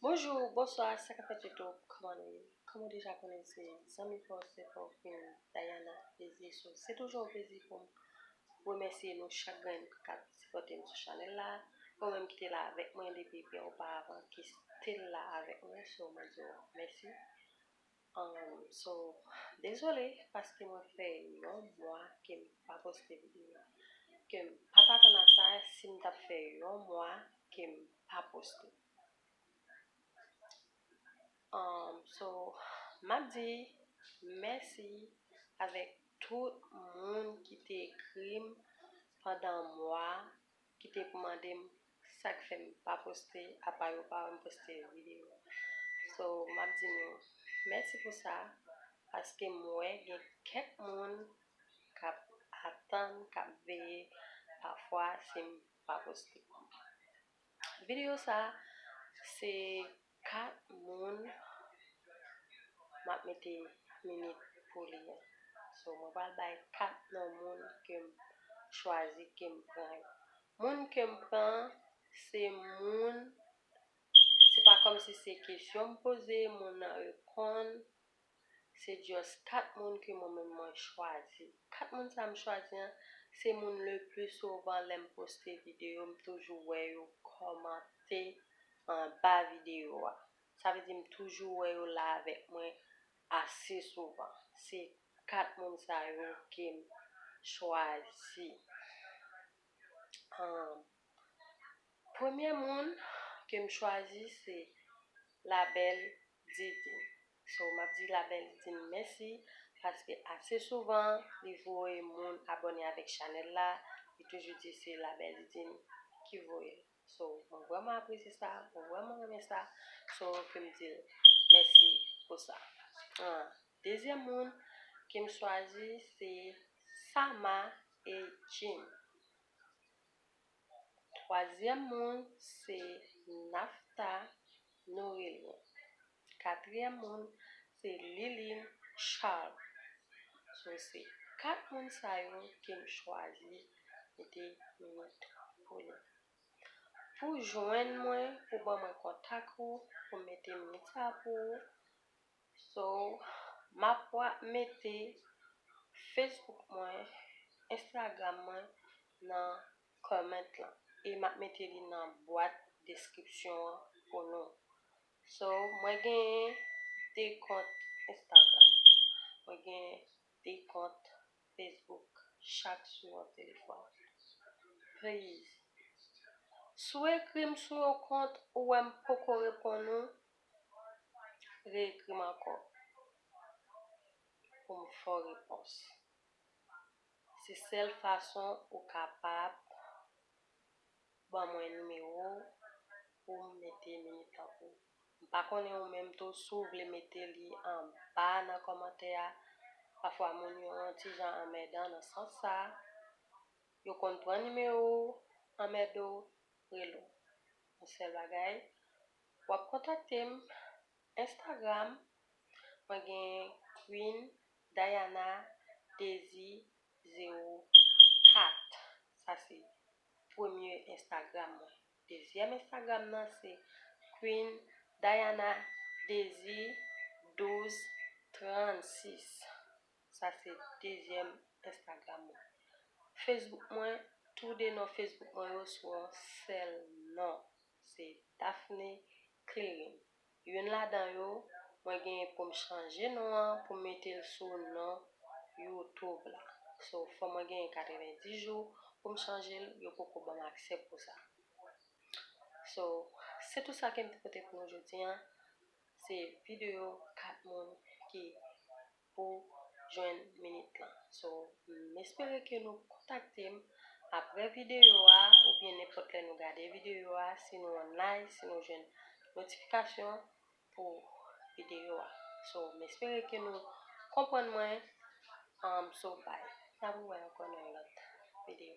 Bonjou, bonswa, sa kap fèt yotou, kòman nou ye? Kòm ou deja konnen se zanmi pa w, sè pa w, frè w, Dayana Dezyesof. Se toujou yon plezi pou m remèsye nou chak grenn kap sipòte m sou chanèl la. Ou menm ki te la avèk mwen depi byen oparavan, ki stil la avèk mwen, se w mwen di w mèsi. Humm so dezole paske mwen fè yon mwa kem pa poste video kem pat atann a sa sim tap fè yon mwa kem pa poste humm so map di mèsi avèk tout moun kite ekrim pandan mwa ki te mandem sak fèm pa poste apa yo pa wèm poste video so map di nou mèsi pou sa paskem wè gen kèk moun kap atann kap veye pafwa sim pa poste video sa se 4 moun map mete minit pou li an so mwen pral bay 4 non moun kem chwazi kem pran yo moun kem pran an se moun se pa kòmsi se kesyon m poze moun nan reponn se just 4 moun ke mwen menm mwen chwazi. 4 moun sa m chwazi an, se moun le plus souvent lè m poste video m toujou wè yo kòmante anba video a. Sa vle di m toujou wè yo la avèk mwen ase souvan. Se 4 moun sa yo ke m chwazi. Premye moun ke m chwazi se la belle Didi. So map di la belle team mèsi paske ase souvan li voye moun abone avek chanel la li toujou di se la belle team ki voyel so mwen vreman apresye sa mwen vreman renmen sa so kem dil mèsi pou sa ahh dezyèm moun kem chwazi se Sama e Jim. Twazyèm moun se Naphta Nourélien. Katriyèm moun se Liline Charles. So se 4 moun sa yo ke m chwazi mete minit pou nou. Pou jwenn mwen, pou ban mwen kontak ou, pou m mete minit sa pou ou, So map wa mete Facebook mwen Instagram mwen nan comment lan e map mete li nan bwat description an pou nou so mwen gen 2 kont Instagram mwen gen 2 kont Facebook chak sou yon telefòn please si w ekrim sou yon kont ou wèm poko reponn ou Reekri m ankò pou m fè w repons. Se sèl fason ou kapab ban mwen nimewo w pou m mete militan pou ou. M pa konnen ou menm tou si w vle mete li anba nan kòmantè a. Pafwa moun yo yon ti jan anmèdan nan sans sa. Yo konn pran nimewo w, anmède w, rele w. Yon sèl bagay, Wap kontakte m Instagram mwen gen Queen Dayana Dezi 0 4 sa se premye Instagram mwen dezyèm Instagram nan se Queen Dayana Dezi 12 36 sa se dezyèm Instagram mwen Facebook mwen tou de non Facebook mwen yo sou yon sèl non. Se Daphne Clearing. Youn ladan yo, mwen gen pou m chanje non an pou m mete l sou non youtube la. So fò mwen genyen 90 jou pou m chanje l, yo poko ban m aksè pou sa. So, se tout sa ke m te pote pou nou jodi an. Se videyo 4 moun ki pou jwenn minit lan so m espere ke nou kontakte m aprè videyo a oubyen nenpòt lè nou gade videyo a si nou online si nou jwenn notifikasyon pou videyo a so m espere ke nou konprann mwen so bye nap wè ankò nan yon lòt videyo.